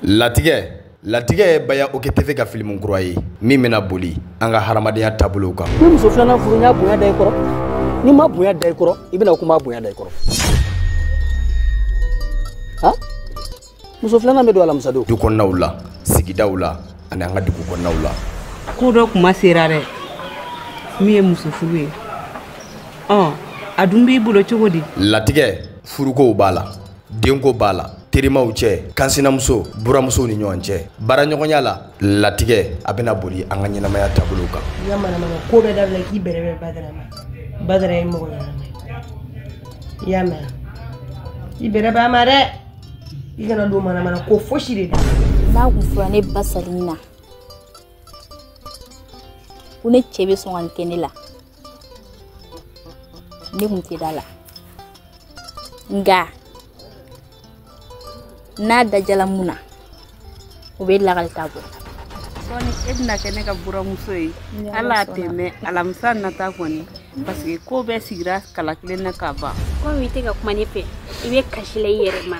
latigɛ latigɛ ye baya ok tv ka filimu kura ye min bɛna boli an ka hadamadenya taabolow kan ni muso filanan furu y'a bonya da i kɔrɔ n'i ma bonya da i kɔrɔ i bɛna kuma bonya da i kɔrɔ ha muso filanan bɛ don alamisa don du kɔnɔnaw la sigidaw la ani an ka dugu kɔnɔnaw la ko dɔ kuma sera dɛ min ye muso furu ye ɔ a dun b'i bolo cogo di latigɛ furukow b'a la denko b'a la terimaw cɛ kansinamuso buramusow ni ɲɔgɔn cɛ baaraɲɔgɔnya la latigɛ a bɛna boli an ka ɲɛnamaya taabolow kan i ka manamana ko bɛɛ dabila k'i bɛrɛbɛrɛ badara ma badara ye mɔgɔ ɲɛnama ye i y'a mɛn i bɛrɛbɛrɛ a ma dɛ i kana don manamana ko fosi de da n'a kun fɔra ne ba sali na ko ne cɛ bɛ sɔn ka nin kɛ ne la ne kun tɛ da a la nka n'a dajala mun na o bɛ lagali ta bɔ sɔɔni e bɛna kɛ ne ka buramuso ye ala a tɛ mɛɛn alamisa nata kɔni parce que ko bɛɛ sigira kala kelen na ka ban komi i tɛ ka kuma ne fɛ i bɛ kasi la i yɛrɛ ma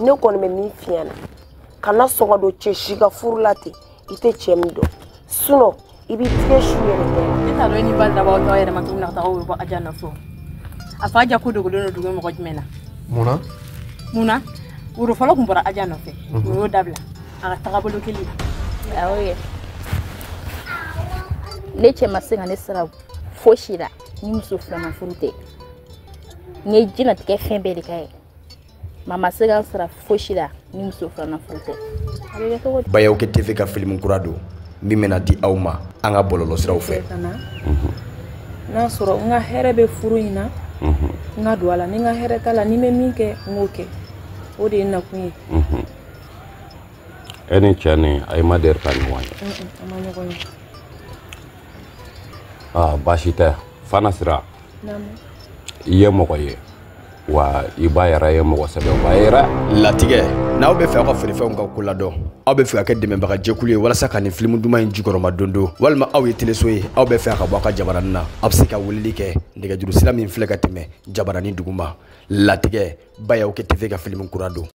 ne kɔni bɛ min f'i ɲɛna kana sɔn ka don cɛ si ka furu la ten i tɛ cɛ min dɔn sinon i b'i tigɛ su yɛrɛ kɛ. ne t'a dɔn e ni badara b'aw yɛrɛ ma cogo min na ka taa woro bɔ aja nɔfɛ a fɔ aja ko dogolen don dugu mɔgɔ jumɛn na. mun na. mun na woro fɔlɔ tun bɔra aja nɔfɛ o mhm. u y'o dabila a ka tagabolo kelen. awɔ yɛ ne cɛ ma se ka ne sara fosi la ni muso filanan furu tɛ n ye diɲɛnatigɛ fɛn bɛɛ de k'a ye. mais a ma se ka n sara fosi la ni muso filanan furu tɛ a bɛ kɛ cogo di baya ok tv ka filimu kura don min bɛna di aw ma an ka bɔlɔlɔsiraw fɛ n'a sɔrɔ n ka hɛrɛ bɛ furu in na n ka don a la ni n ka hɛrɛ t'a la ni n bɛ min kɛ n k'o kɛ o de ye n nakun ye e ni cɛ nin aw ma deli ka ɲɔgɔn ye an ma ɲɔgɔn ye baasi tɛ fana sira i ye mɔgɔ ye wa i ba yɛrɛ ye mɔgɔ sɛbɛba ye dɛ latigɛ n'aw bɛ fɛ aw ka feerefɛnw ka ko ladɔn aw bɛ fɛ ka kɛ dɛmɛbaga jɛkulu ye walasa ka nin filimu duman in jukɔrɔmadondon walima aw ye teleso ye aw bɛ fɛ ka bɔ aw ka jabaranin na aw bɛ se ka weleli kɛ nɛgɛjuru sira min filɛ ka tɛmɛ jabaranin duguma latigɛ baya ok tv ka filimu kura don